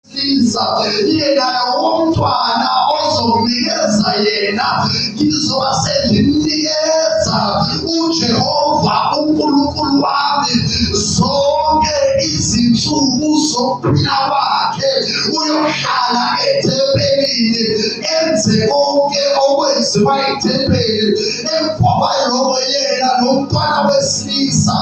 siza yena lowomntwana ozomnikeza yena ngizoba sengimnikeza ujehova unkulunkulu wami zonke izinsuku zokuphila kwakhe uyohlala ethempelini enze konke okwenziwa ethempelini emva kwaloko yena lomntwana wesilisa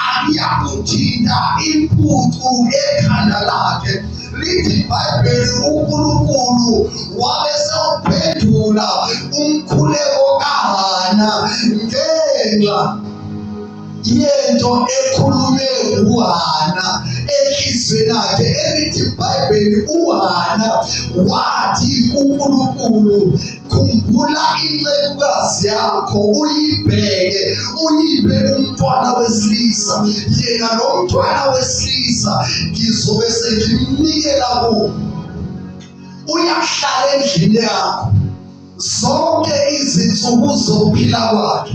akuyakuthinta impucu ekhanda lakhe lithi ibhayibheli unkulunkulu wabe sewuphendula umkhuleko kahana ngenxa yento ekhulunywe nguhana enhliziyweni yakhe elithi ibhayibheli uhana wathi kunkulunkulu khumbula incekukazi yakho uyibheke uyibe umntwana wesilisa yena lo mntwana wesilisa ngizobe sengimnikela kuwo uyahlala endlini yakho zonke izinsuku zokuphila kwakhe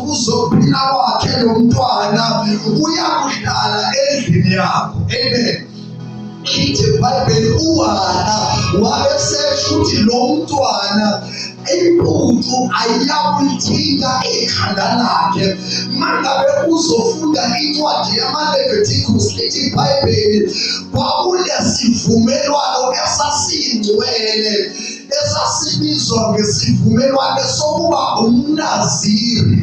uzophila kwakhe lo mntwana uyakuhlala endlini yakho amen lithi ibhayibheli uwana wabesesho ukuthi lo mntwana impucu ayiyakuyithinta ikhanda lakhe mangabe uzofunda incwadi yamalevetikus lithi ibhayibheli kwakunesivumelwano esasingcwele esasibizwa ngesivumelwane sokuba umnaziri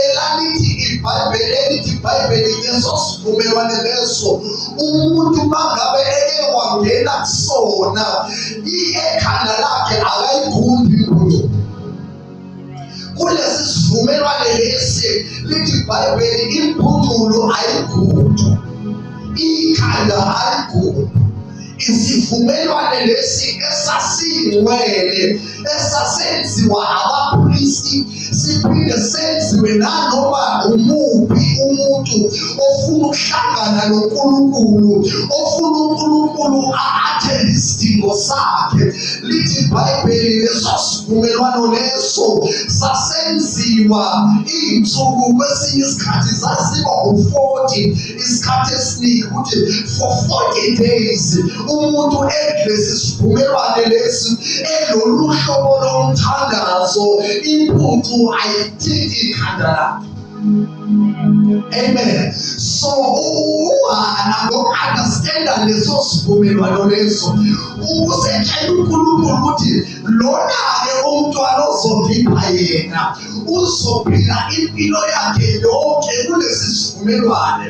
elalithi ibhayibheli elithi ibhayibheli leso sivumelwane leso umuntu mangabe eke wangena kusona ekhanda lakhe akayigundi kulesi sivumelwane lesi lithi ibhayibheli impuculo ayigudu ikhanda ayigudu isivumelwane lesi esasingcwele esasenziwa abaphristi siphinde senziwe nanoma umuphi umuntu ofuna ukuhlangana noNkulunkulu ofuna uNkulunkulu athe isidingo sakhe lithi ibhayibheli leso sivumelwano leso sasenziwa iy'nsuku kwesinye isikhathi zaziba u-forty isikhathi esiningi ukuthi for forty days umuntu edlesi sivumelwane lesi elolu hlobo lomthandazo impucu ayithinti ikhanda lakhe Amen. So uhana ngokuunderstanda leso sivumelwano leso ukusetshela uNkulunkulu ukuthi lona-ke umntwana ozovipha yena uzophila impilo yakhe yonke kulesi sivumelwane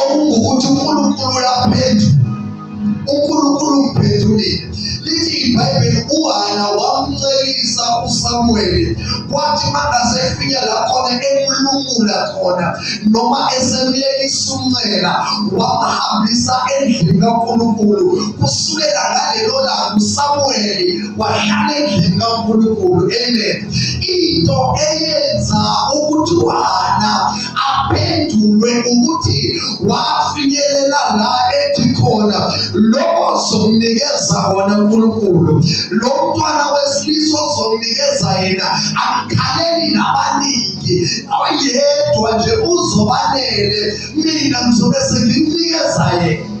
okungukuthi uNkulunkulu uyaphetha uNkulunkulu umphendulile lithi iBhayibheli uHana wamncelisa uSamuweli kwathi mangase efika la khona emlungula khona noma esemyekisa umncela wamhambisa endlini kaNkulunkulu kusukela ngalelo langa uSamuweli wahlala endlini kaNkulunkulu amen into eyenza ukuthi uHana aphendulwe ukuthi wafinyelela la ethi khona lokho ozomnikeza wona uNkulunkulu lo mntwana wesilisa ozomnikeza yena akukhaleli nabaningi oyedwa nje uzobanele mina ngizobe senginikeza yena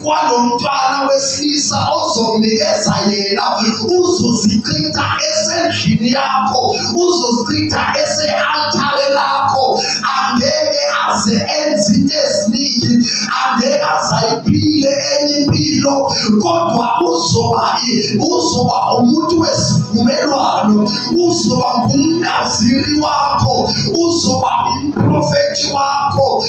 kwalomfana wesilisa ozonikeza yena uzozichitha esendlini yakho uzozichitha ese-altare lakho angeke aze enze into eziningi angeke azayiphile enye impilo kodwa uzoba uzoba umuntu wesivumelwano uzoba ngumnaziri wakho uzoba umprofethi wakho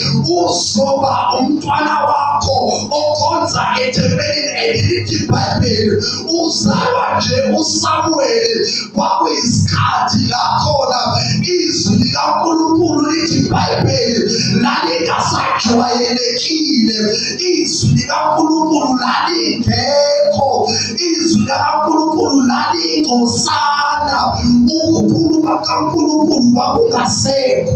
Ngoba umntwana wakho okhonza ethempelini elithi ibhayibheli uzalwa nje usamuweli kwakuyisikhathi lakhona izwi likankulunkulu lithi ibhayibheli lalingasajwayelekile izwi likankulunkulu lalingekho izwi likankulunkulu lalingosana ukukhuluma kukankulunkulu kwakungasekho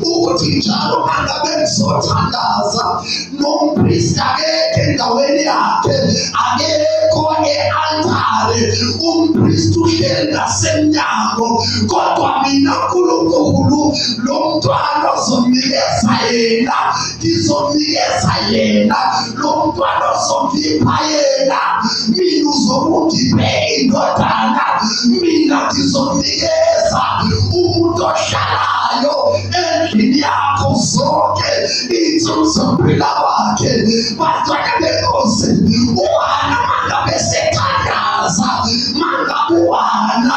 ukuthi njalo mangabe ngizothandaza nompristi akekho endaweni yakhe akekho e-altare umpristi uhleli ngasemnyango kodwa mina nkulunkulu lo mntwana ozomnikeza yena ngizomnikeza yena lo mntwana ozongipha yena mina uzokungiphe indodana mina ngizomnikeza umuntu ohlalayo endlini yakho zonke iy'nsuku zokuphila kwakhe bantwana benkosi uwana mangabe sethandaza mangabuwana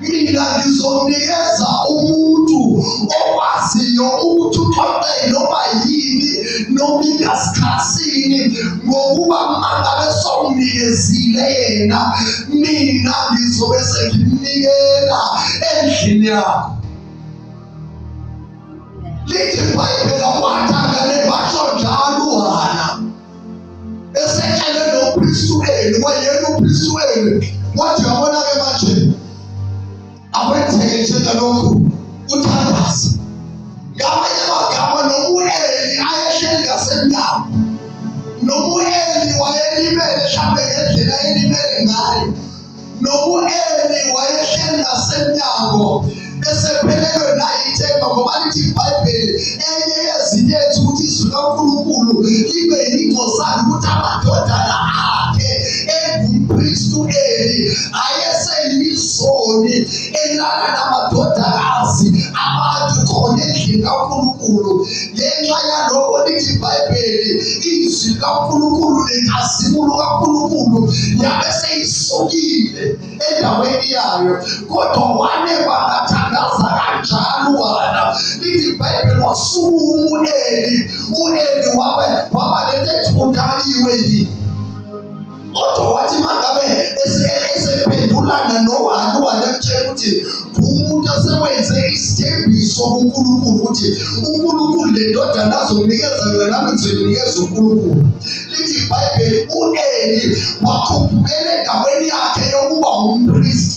mina ngizonikeza umuntu okwaziyo ukuthi uxoxe noma yini noma ingasikhathini ngokuba mangabe songinikezile yena mina ngizobe sengimnikela endlini yakho lithi ibhayibhela kwatha esehlele noKristu wenu kwayena uKristu wenu wathi yabona-ke manje akwenzeke njengalokhu uthandaze ngamanye amagama nomueli ayehleli ngasemnyango nomueli wayelimele mhlawumbe ngendlela elimele ngayo nokueli wayehleli nasemnyango esephelelwe nayithemba ngoba lithi ibhayibheli enye yezinto ethi ukuthi izwi likankulunkulu libe yingcosana ukuthi amadodana akhe engumpristu eli ayeseyizoni elala namadodakazi abantu khona endlini kankulunkulu ngenxa yaloko lithi ibhayibheli izwi likankulunkulu nenkazimulo kankulunkulu yabe seyisukile endaweni yayo kodwa wane bangathandaza kanjalo wala lithi ibhayibheli wasuku umuneli uneli wabe wabalethethundakiwe yini kodwa wathi mangabe esephendulana nohani wanemtshela ukuthi umuntu asewenze isithembiso kunkulunkulu ukuthi unkulunkulu le ndodana azonikeza yona nami ngizoyinikeza unkulunkulu lithi ibhayibheli u-eli wakhuphukela endaweni yakhe yokuba umpristi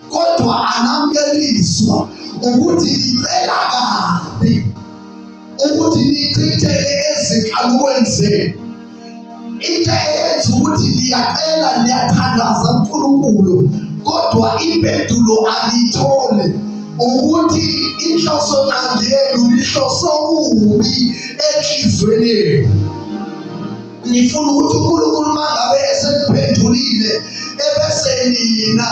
kodwa anamkelizwa ukuthi ngicela kabi ukuthi nichithele ezinkalukweni zenu into eyenza ukuthi ngiyacela ngiyathandaza uNkulunkulu kodwa impendulo angiyithole ukuthi inhloso nqangi yenu lihloso kubi enhlizweni yenu nifuna ukuthi uNkulunkulu mangabe esekuphendulile ebese nina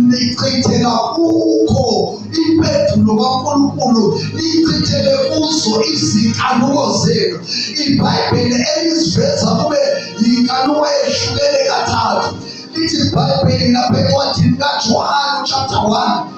nichithela kukho impendulo kaNkulunkulu nichithele kuzo izinkanuko zenu ibhayibheli eliziveza kube yinkanuko ehlukene kathathu lithi ibhayibheli lapha encwadini kajohane chapter 1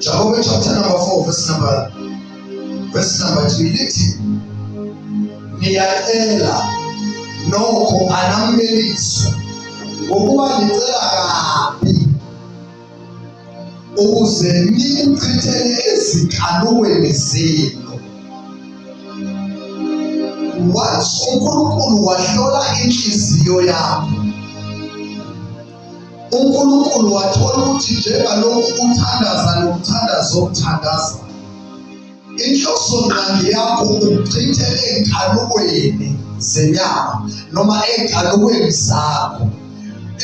Jakobe chapter number 4 verse number verse number 3 lithi niyacela nokho anamlelisi ngokuba nicela kabi ukuze nikuchithele ezinkalweni zenu wathi uNkulunkulu wahlola inhliziyo yakho uNkulunkulu wathola ukuthi njengalokhu uthandaza nomthandazo omthandaza inhloso ngqangi yakho ukuchitha enkhalukweni zenyama noma enkhalukweni zakho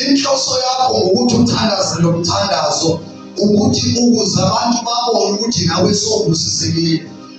inhloso yakho ukuthi uthandaze nomthandazo ukuthi ukuze abantu babone ukuthi nawe sowubusisekile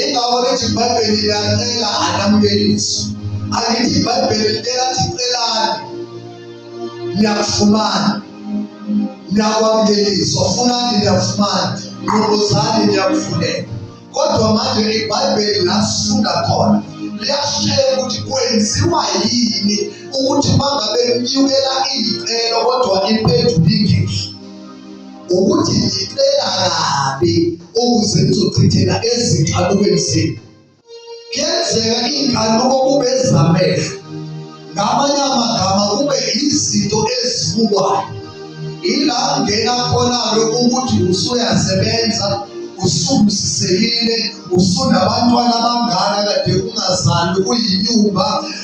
Ingakho lithi iBhayibheli liyacela anamukeliso. Angithi iBhayibheli licela sicelane. Niyakufumana. Niyakwamukeliswa. Funani niyakufumana. Nqubuzani niyakufuneka. Kodwa manje iBhayibheli lasifunda khona liyashela ukuthi kwenziwa yini ukuthi mangabe kunyukela iy'celo kodwa impendulo ingehli ukuthi ngicela kabi ukuze nizochithela ezinkanukweni zenu kuyenzeka iy'nkanuko kube ezamehlo ngamanye amagama kube izinto ezibukwayo ila ngena khona-ke ukuthi usuyasebenza usubusisekile usunabantwana abangana kade ungazali uyinyumba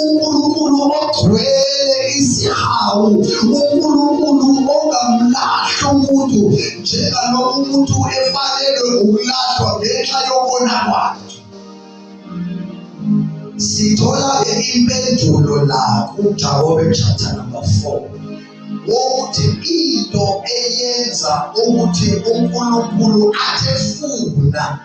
uNkulunkulu ogcwele izihawu, uNkulunkulu ongamlahli umuntu njengalokhu umuntu efanelwe ukulahlwa ngenxa yokona kwakhe. Sithola-ke impendulo la kuJakobe chapter number 4 wokuthi into eyenza ukuthi uNkulunkulu athefuna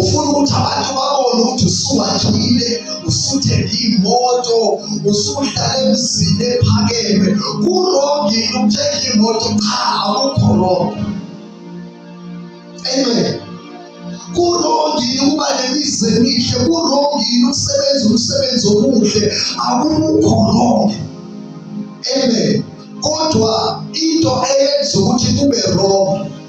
ufuna ukuthi abantu babone ukuthi usuwakhile usuthenge imoto usuhlala emzini ephakeme kurongi ukuthenga imoto cha akukho rongi amen kurongile ukuba nemizi emihle kurongile ukusebenza umsebenzi omuhle akukho rongi amen kodwa into eyenza ukuthi kube rongi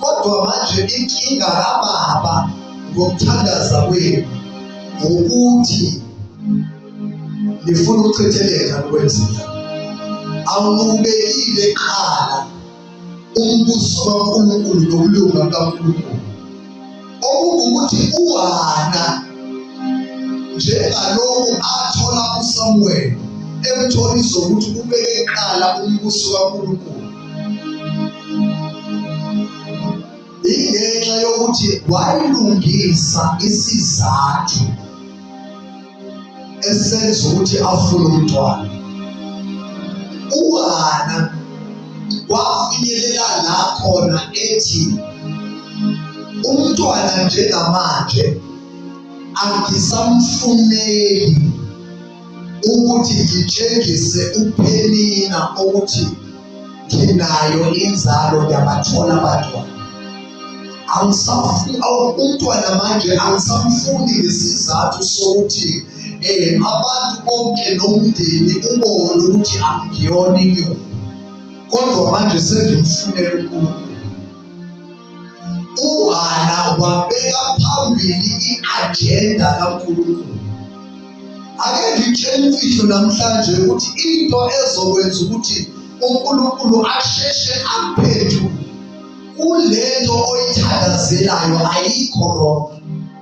Kodwa manje inkinga kababa ngokuthandaza kwenu ukuthi nifuna ukuthetheleka nokwenzeka awubekile qala umbuso kaNkulunkulu nokulunga kaNkulunkulu okungukuthi uHana njengalokhu athola uSamuel emtholisa ukuthi ubeke kuqala umbuso kaNkulunkulu ingenxa yokuthi wayilungisa isizathu esenza ukuthi afune umntwana uHana wafinyelela la khona ethi umntwana njengamanje angisamfuneli ukuthi ngitshengise uphenina ukuthi nginayo inzalo ngiyabathola abantwana angisafuni umntwana manje angisamfuni ngesizathu sokuthi um abantu bonke nomndeni ubone ukuthi angiyona inyoni kodwa manje sengimfunela unkulunkulu UHana wabeka phambili i-ajenda kaNkulunkulu. Ake ngitshele imfihlo namhlanje ukuthi into ezokwenza ukuthi uNkulunkulu asheshe aphenduke kulento oyithandazelayo ayikho wrong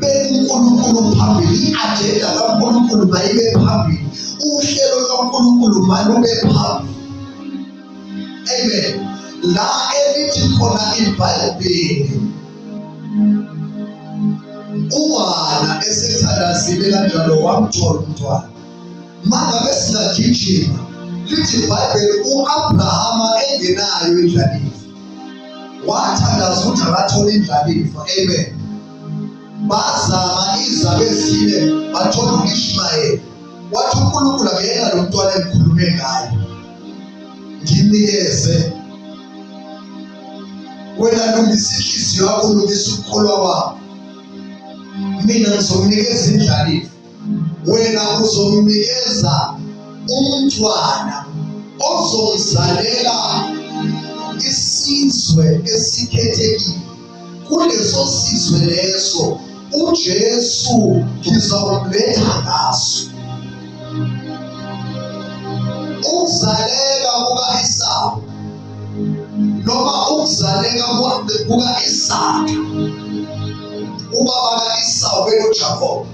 benkulunkulu phambili i-ajenda kankulunkulu mayibe phambili uhlelo lwankulunkulu malube phambili amen la elithi khona ibhayibheli umwana esethandazile kanjalo wamthola umntwana mangabe singagijima lithi ibhayibheli u-abrahama engenayo indlalifa wathandaza ukuthi akathole indlalifa amen bazama izabe ezine bathola uIshmayeli wathi uNkulunkulu akuyena lo mntwana engikhulume ngaye nginikeze wena lungisa inhliziyo yakho lungisa ukukholwa kwakho mina ngizomnikeza indlalifa wena uzomnikeza umntwana ozomzalela isizwe esikhethekile kuleso sizwe leso uJesu ngizomletha ngaso ukuzaleka kuka-Esawu noma ukuzaleka kuka-Isaka ubaba ka-Esawu bekuJakobe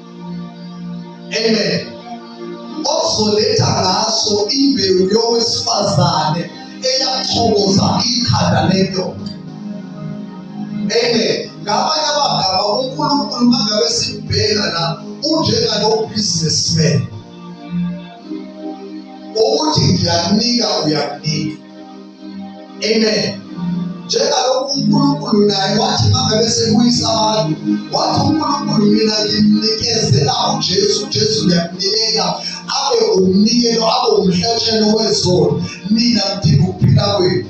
amen ozoletha ngaso imbewu yowesifazane eyachoboza ikhanda lendoda amen ngamanye amagama unkulunkulu mangabe simbheka la unjengalobusinessman ukuthi ngiyakunika uyakunika Amen. Njengalokhu uNkulunkulu naye wathi mangabe sebuyisa abantu, wathi uNkulunkulu mina ngimnikezela uJesu, uJesu ngiyamnikela abe umnikelo, abe umhlatshelo wezono, mina ngidinga ukuphila kwenu.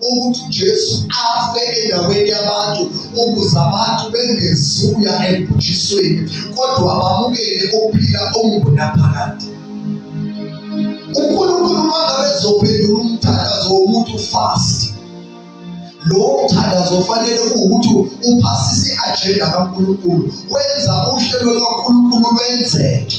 ukuthi uJesu afe endaweni yabantu ukuze abantu bengezuya ekubhujisweni kodwa bamukele ukuphila okungunaphakade uNkulunkulu mangabe ezophendula umthandazo womuntu fast lowo mthandazo ofanele ukuthi uphasise i-ajenda kaNkulunkulu wenza uhlelo lwaNkulunkulu lwenzeke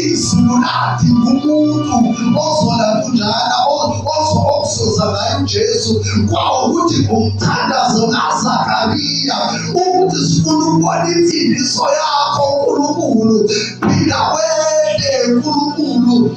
izulu lathi umuntu ozola kunjana ozozoza ngaye uJesu kwawukuthi umthandazo kaZakariya ukuthi sifuna ukubona imfundiso yakho uNkulunkulu phila kwede uNkulunkulu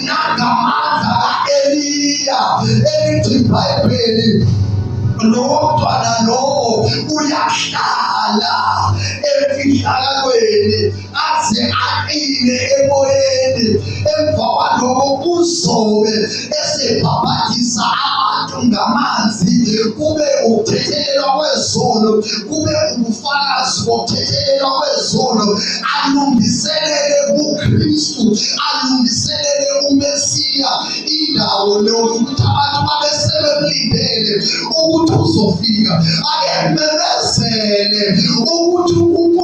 nangamandla ka-eliya elithi ibhayibheli lowo mntwana lowo uyahlala emfihlakalweni aze aqine emoyeni emva kwaloko kuzobe esebhabhadisa abantu ngamanzi kube ukuthethelelwa kwezono kube ubufakazi bokuthethelelwa kwezono alungiselele uKristu, alungiselele uMesiya indawo leyo ukuthi abantu babe sebemlindele ukuthi uzofika, akememezele ukuthi uNkulunkulu